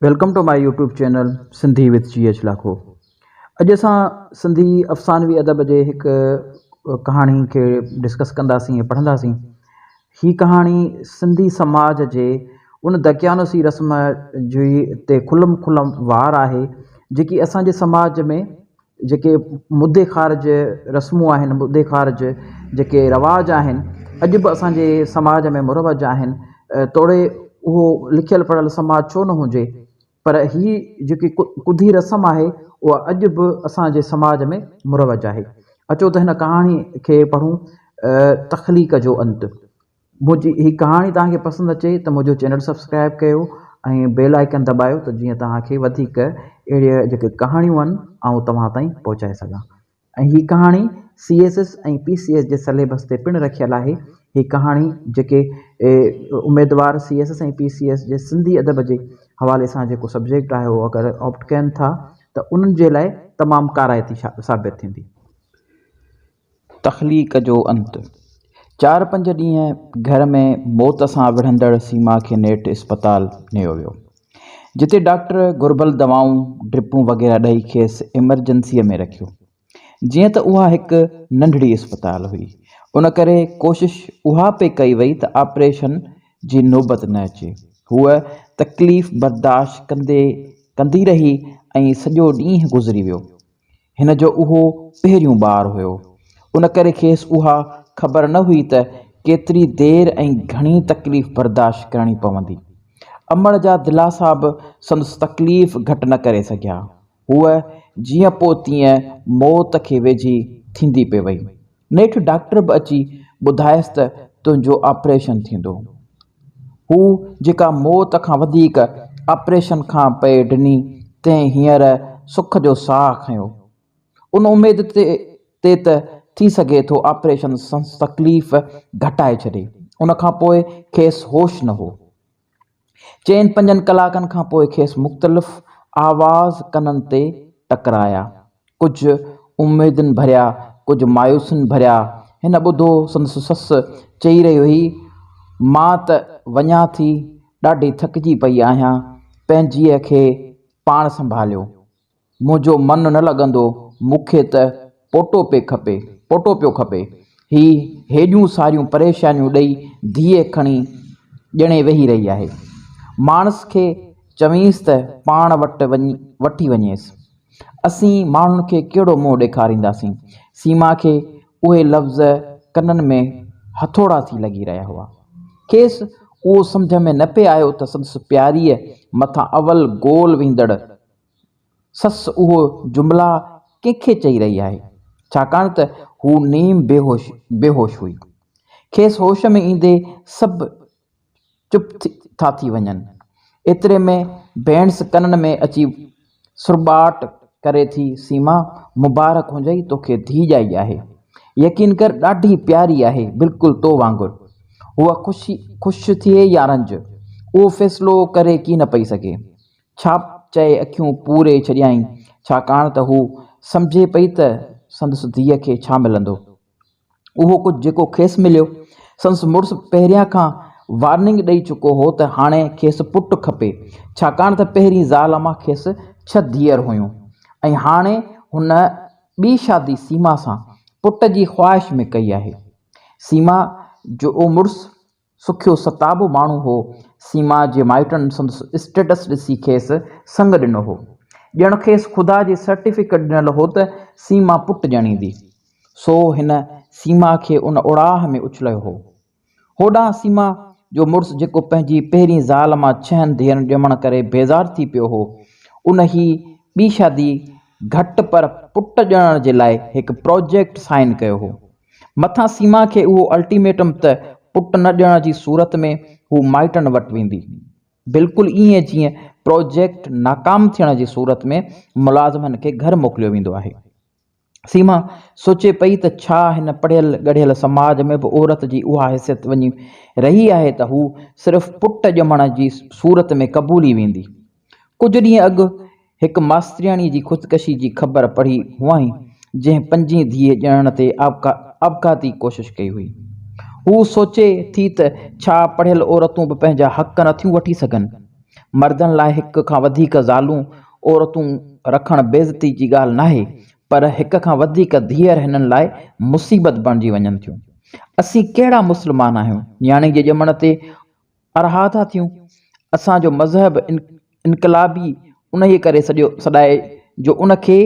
Welcome to my YouTube channel Sindhi with G H Lakho اڄ اسان سنڌي افسانوي ادب جي هڪ ڪهاڻي کي ڊسڪس ڪنداسين پڙهنداسين هي ڪهاڻي سنڌي سماج جي ان دقيانوسي رسم جي تي کلم کلم وار آهي جيڪي اسان جي سماج ۾ جيڪي مدي خارج رسمون آهن مدي خارج جيڪي رواج آهن اڄ به اسانجي سماج ۾ مروج آهن توڙي اهو لکيل پڙهيل سماج ڇو نه هجي پر هي جيڪي ڪڌي رسم آهي اها اڄ به اسانجي سماج ۾ مروج آهي اچو ته هن ڪهاڻي کي پڙهون تخليق جو انت منهنجي هي ڪهاڻي توهان کي پسند اچي ته منهنجو چينل سبسڪرائب ڪيو ۽ بيل آئيڪن دٻايو ته جيئن توهان کي وڌيڪ اهڙي جيڪي ڪهاڻيون آهن آئون توهان تائين پهچائي سگهان ۽ هي ڪهاڻي C S S ۽ P C S جي سليبس تي پڻ رکيل آهي هي ڪهاڻي جيڪي اميدوار C S S ۽ P C S جي سنڌي ادب جي حوالي سان جيڪو سبجيڪٽ آهي اهو اگر آپٽ ڪين ٿا ته انهن جي لاء تمام ڪارائتي ثابت ٿيندي. تخليق جو انت. چار پنج ڏينهن گهر ۾ موت سان وڙهندڙ سيما کي نيٺ اسپتال نيو ويو. جتي ڊاڪٽر گهربل دوائون، ڊرپون وغيره ڏئي کيس ايمرجنسيء ۾ رکيو. جيئن ته اها هڪ ننڍڙي اسپتال هئي، ان ڪري ڪوشش اها پئي ڪئي وئي ته آپريشن جي نوبت نه اچي. هوء تڪليف برداشت ڪندي ڪندي رهي ۽ سڄو ڏينهن گذري ويو. هن جو اهو پهريون ٻار هيو، ان ڪري کيس اها خبر نه هئي ته ڪيتري دير ۽ گهڻي تڪليف برداشت ڪرڻي پوندي. امڙ جا دلاسا به سندس تڪليف گهٽ نه ڪري سگهيا. هوء جيئن پوء تيئن موت کي ويجهي ٿيندي پئي وئي. نيٺ ڊاڪٽر به اچي ٻڌايس ته تنهنجو آپريشن ٿيندو. هو جيڪا موت کان وڌيڪ آپريشن کان پئي ڊني تنهن هينئر سک جو ساهه کنيو. ان اميد تي ته ٿي سگهي ٿو آپريشن سنس تڪليف گهٽائي ڇڏي. ان کان پوء کيس هوش نه هو. چئن پنجن ڪلاڪن کان پوء کيس مختلف آواز ڪنن تي ٽڪرايا. ڪجهه اميدن ڀريا، ڪجهه مايوسين ڀريا. هن ٻڌو سندس سس چئي رهي هئي، مان ته وڃان ٿي، ڏاڍي ٿڪجي پئي آهيان، پنهنجيء کي پاڻ سنڀاليو. منهنجو من نه لڳندو، مون کي ته پوٽو پئي کپي، پوٽو پيو کپي. هي هيڏيون ساريون پريشانيون ڏئي ڌيء کڻي ڄڻي ويهي رهي آهي. ماڻس کي چوينس ته پاڻ وٽ وٺي وڃيس. اسين ماڻهن کي ڪهڙو منهن ڏيکارينداسين. سيما کي اهي لفظ ڪنن ۾ هٿوڙا ٿي لڳي رهيا هئا. کيس اهو سمجهه ۾ نه پئي آيو ته سندس پياريء مٿان اول گول ويندڙ سس اهو جملا ڪنهن کي چئي رهي آهي؟ ڇاڪاڻ ته هوء نيم بيهوش هئي. کيس هوش ۾ ايندي سڀ چپ ٿا ٿي وڃن. ايتري ۾ ڀيڻس ڪنن ۾ اچي سرٻاٽ ڪري ٿي، سيما! مبارڪ هجئي توکي ڌيء ڄائي آهي. يقين ڪر ڏاڍي پياري آهي، بلڪل تو وانگر. هوء خوش ٿئي يا رنج، اهو فيصلو ڪري ڪين پئي سگهي. ڇا چئي اکيون پوري ڇڏيائين، ڇاڪاڻ ته هو سمجهي پئي ته سندس ڌيء کي ڇا ملندو؟ اهو ڪجهه جيڪو کيس مليو. سندس مڙس پهريان کان وارننگ ڏئي چڪو هو ته هاڻي کيس پٽ کپي، ڇاڪاڻ ته پهرين زال مان کيس ڇهه ڌيئر هيون ۽ هاڻي هن ٻي شادي سيما سان پٽ جي خواهش ۾ ڪئي آهي. سيما جو مڙس سکيو ستابو ماڻهو هو. سيما جي مائٽن سندس اسٽيٽس ڏسي کيس سڱ ڏنو هو. ڄڻ کيس خدا جي سرٽيفڪيٽ ڏنل هو ته سيما پٽ ڄڻيندي. سو هن سيما کي ان اوڙاهه ۾ اڇلايو هو. هوڏانهن سيما جو مڙس جيڪو پنهنجي پهرين زال مان ڇهن ڌيئرن ڄمڻ ڪري بيزار ٿي پيو هو، ان هي ٻي شادي گهٽ پر پٽ ڄڻڻ جي لاء هڪ پراجيڪٽ سائين ڪيو هو. مٿان سيما کي اهو الٽيميٽم ته پٽ نه ڏيڻ جي صورت ۾ هو مائٽن وٽ ويندي. بلڪل ائين جيئن پراجيڪٽ ناڪام ٿيڻ جي صورت ۾ ملازمن کي گهر موڪليو ويندو آهي. سيما سوچي پئي ته ڇا هن پڙهيل ڳڙهيل سماج ۾ به عورت جي اها حيثيت وڃي رهي آهي ته هو صرف پٽ ڄمڻ جي صورت ۾ قبولي ويندي. ڪجهه ڏينهن اڳ هڪ ماسترياڻي جي خودڪشي جي خبر پڙهي هئائين، جنهن پنجين ڌيء ڄڻڻ تي آپگهاتي ڪوشش ڪئي هئي. هوء سوچي ٿي ته ڇا پڙهيل عورتون به پنهنجا حق نه ٿيون وٺي سگهن؟ مردن لاء هڪ کان وڌيڪ زالون، عورتون، رکڻ بيعزتي جي ڳالهه ناهي، پر هڪ کان وڌيڪ ڌيئر هنن لاء مصيبت بڻجي وڃن ٿيون. اسين ڪهڙا مسلمان آهيون، نياڻي جي ڄمڻ تي ارها ٿا ٿيون. اسان جو مذهب انقلابي انهيء ڪري سڏيو سڏائي جو ان کي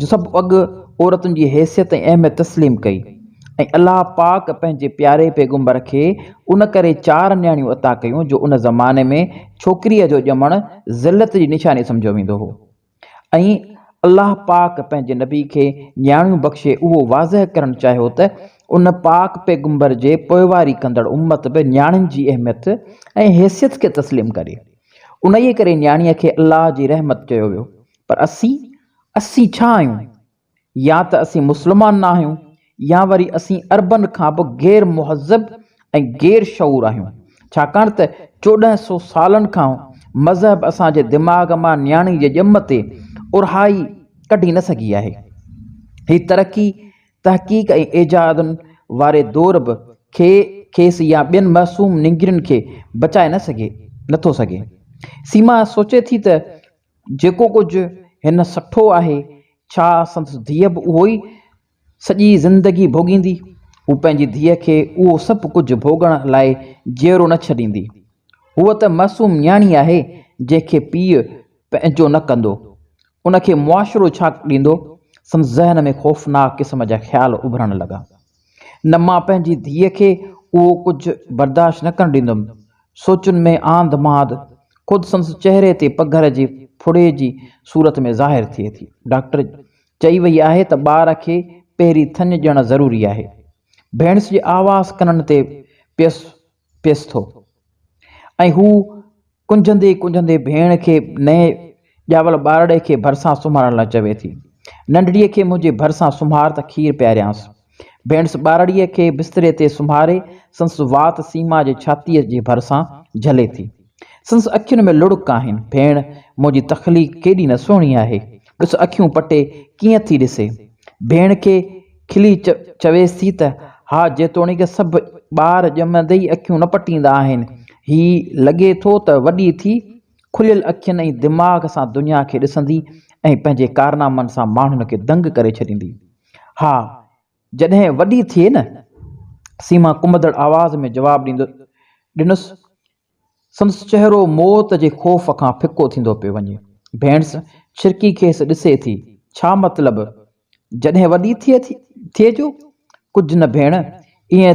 جو سڀ اڳ عورتن جي حيثيت ۽ اهميت تسليم ڪئي ۽ الله پاڪ پنهنجي پياري پيغمبر کي ان ڪري چار نياڻيون عطا ڪيون جو ان زماني ۾ ڇوڪريء جو ڄمڻ ذلت جي نشاني سمجهيو ويندو هو. ۽ الله پاڪ پنهنجي نبي کي نياڻيون بخشي اهو واضح ڪرڻ چاهيو ته ان پاڪ پيغمبر جي پوئواري ڪندڙ امت به نياڻين جي اهميت ۽ حيثيت کي تسليم ڪري. انهيء ڪري نياڻيء کي الله جي رحمت چيو ويو. پر اسين، اسين ڇا آهيون؟ يا ته اسين مسلمان نه آهيون يا وري اسين عربن کان به غير مهذب ۽ غير شعور آهيون ڇاڪاڻ ته چوڏهن سو سالن کان مذهب اسان جي دماغ مان نياڻي جي ڄم تي اورهائي ڪڍي نه سگهي آهي. هي ترقي، تحقيق ۽ ايجادن واري دور به کي کيس يا ٻين معصوم نينگرين کي بچائي نه سگهي نه ٿو سگهي. سيما سوچي ٿي ته جيڪو ڪجهه هن سٺو آهي، ڇا سندس ڌيء به اهو ئي سڄي زندگي ڀوڳيندي؟ هو پنهنجي ڌيء کي اهو سڀ ڪجهه ڀوڳڻ لاء جيئرو نه ڇڏيندي. هوء ته معصوم نياڻي آهي، جنهن کي پيء پنهنجو نه ڪندو، ان کي معاشرو ڇا ڏيندو؟ سندس ذهن ۾ خوفناڪ قسم جا خيال اڀرڻ لڳا. نه مان پنهنجي ڌيء کي اهو ڪجهه برداشت نه ڪرڻ ڏيندم. سوچن ۾ آنڌ مانڌ خود سندس چهري تي پگهر جي ڦڙي جي صورت ۾ ظاهر ٿئي ٿي. ڊاڪٽر چئي وئي آهي ته ٻار کي پهرين ٿڃ ڏيڻ ضروري آهي. ڀيڻس جي آواز ڪنن تي پيس پيس ٿو ۽ هو ڪنجهندي ڪنجهندي ڀيڻ کي نئين ڄاول ٻارڙي کي ڀرسان سمهارڻ لاء چوي ٿي، ننڍڙيء کي منهنجي ڀرسان سمهار ته کير پياريانس. ڀيڻس ٻارڙيء کي بستري تي سمهاري سندس وات سيما جي ڇاتيء جي ڀرسان جهلي ٿي. سندس اکين ۾ لڙڪ آهن، ڀيڻ، منهنجي تخليق ڪيڏي نه سهڻي آهي، ڏس اکيون پٽي ڪيئن ٿي ڏسي. ڀيڻ کي کلي چويس ٿي ته، ها جيتوڻيڪ سڀ ٻار ڄمندي ئي اکيون نه پٽيندا آهن، هي لڳي ٿو ته وڏي ٿي، کليل اکين ۽ دماغ سان دنيا کي ڏسندي ۽ پنهنجي ڪارنامن سان ماڻهن کي دنگ ڪري ڇڏيندي. ها! جڏهن وڏي ٿئي نه؟ سيما ڪنبدڙ آواز ۾ جواب ڏيندو ڏنس. سندس چهرو موت جي خوف کان ڦڪو ٿيندو پيو وڃي. ڀيڻس ڇرڪي کيس ڏسي ٿي. ڇا مطلب؟ جڏهن وڏي ٿئي جو؟ ڪجهه نه ڀيڻ، ائين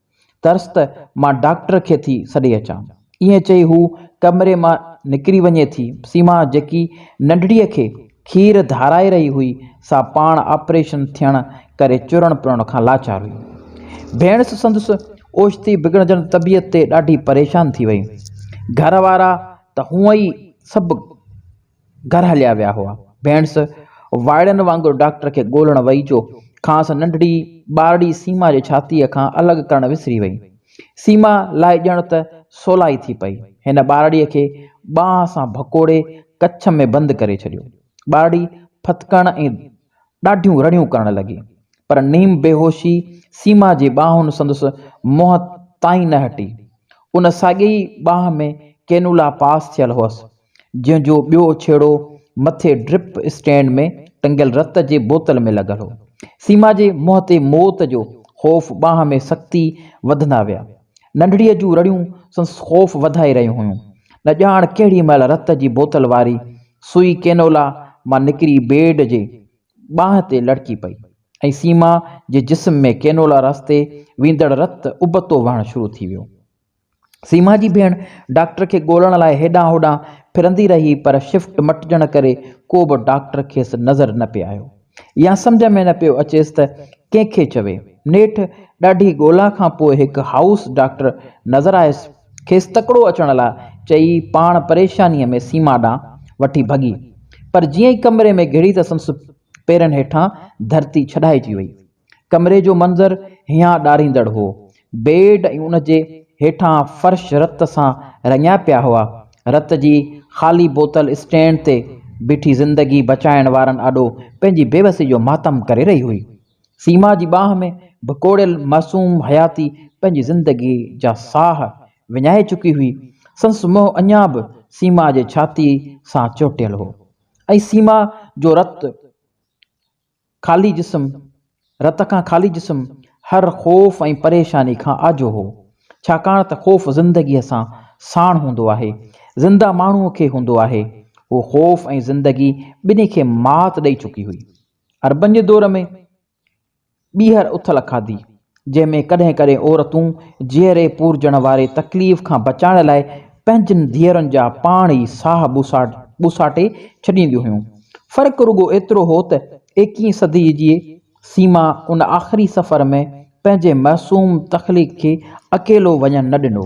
ڪرس ته مان ڊاڪٽر کي ٿي سڏي اچان. ائين چئي هو ڪمري مان نڪري وڃي ٿي. سيما جيڪي ننڍڙيء کي کير ڌارائي رهي هئي، سا پاڻ آپريشن ٿيڻ ڪري چرڻ پرڻ کان لاچار هئي. ڀيڻس سندس اوچتي بگڙجندڙ طبيعت تي ڏاڍي پريشان ٿي وئي. گهر وارا ته هونئن ئي سڀ. گهر هليا ويا هئا. ڀيڻس وائڙن وانگر ڊاڪٽر کي ڳولڻ وئي جو کانئس ننڍڙي ٻارڙي سيما جي ڇاتيء کان الڳ ڪرڻ وسري وئي. سيما لاء ڄڻ ته سولائي ٿي پئي. هن ٻارڙيء کي ٻانهن سان ڀڪوڙي ڪڇ ۾ بند ڪري ڇڏيو. ٻارڙي ڦٿڪڻ ۽ ڏاڍيون رڙيون ڪرڻ لڳي. پر نيم بيهوشي سيما جي ٻانهن سندس منهن تائين نه هٽي. ان ساڳئي ٻانهن ۾ ڪينولا پاس ٿيل هئس. جنهن جو ٻيو ڇيڙو مٿي ڊرپ اسٽينڊ ۾ ٽنگيل رت جي بوتل ۾ لڳل هو. سيما جي منهن تي موت جو خوف ٻانهن ۾ سختي وڌندا ويا. ننڍڙيء جون رڙيون سندس خوف وڌائي رهيون هيون. نه ڄاڻ ڪهڙي مهل رت جي بوتل واري سوئي ڪينولا مان نڪري بيڊ جي ٻانهن تي لڙڪي پئي ۽ سيما جي جسم ۾ ڪينولا رستي ويندڙ رت ابتو وهڻ شروع ٿي ويو. سيما جي ڀيڻ ڊاڪٽر کي ڳولڻ لاء هيڏانهن هوڏانهن ڦرندي رهي پر شفٽ مٽجڻ ڪري ڪو به ڊاڪٽر کيس نظر نه پئي آيو يا سمجهه ۾ نه پيو اچيس ته ڪنهن کي چوي. نيٺ ڏاڍي ڳولا کان پوء هڪ هائوس ڊاڪٽر نظر آيس. کيس تڪڙو اچڻ لاء چئي پاڻ پريشانيء ۾ سيما ڏانهن وٺي ڀڳي. پر جيئن ئي ڪمري ۾ گهڙي ته سندس پيرن هيٺان ڌرتي ڇڏائجي وئي. ڪمري جو منظر هيان ڏاريندڙ هو. بيڊ ۽ ان جي هيٺان فرش رت سان رڱيا پيا هئا. رت جي خالي بوتل اسٽينڊ تي بيٺي زندگي بچائڻ وارن آڏو پنهنجي بيوسي جو ماتم ڪري رهي هئي. سيما جي ٻانهن ۾ ڀڪوڙيل معصوم حياتي پنهنجي زندگي جا ساهه وڃائي چڪي هئي. سندس منهن اڃا به سيما جي ڇاتي سان چهٽيل هو ۽ سيما جو رت خالي جسم، رت کان خالي جسم هر خوف ۽ پريشاني کان آجو هو، ڇاڪاڻ ته خوف زندگيء سان ساڻ هوندو آهي، زنده ماڻهوء کي هوندو آهي. هو خوف ۽ زندگي ٻنهي کي مات ڏئي چڪي هئي. عربن جي دور ۾ ٻيهر اٿل کاڌي، جنهن ۾ ڪڏهن ڪڏهن عورتون جيئري پورجڻ واري تڪليف کان بچائڻ لاء پنهنجن ڌيئرن جا پاڻ ئي ساهه ٻوساٽي ڇڏينديون هيون. فرق رڳو ايترو هو ته ايڪيهين صديء جي سيما ان آخري سفر ۾ پنهنجي معصوم تخليق کي اڪيلو وڃڻ نه ڏنو.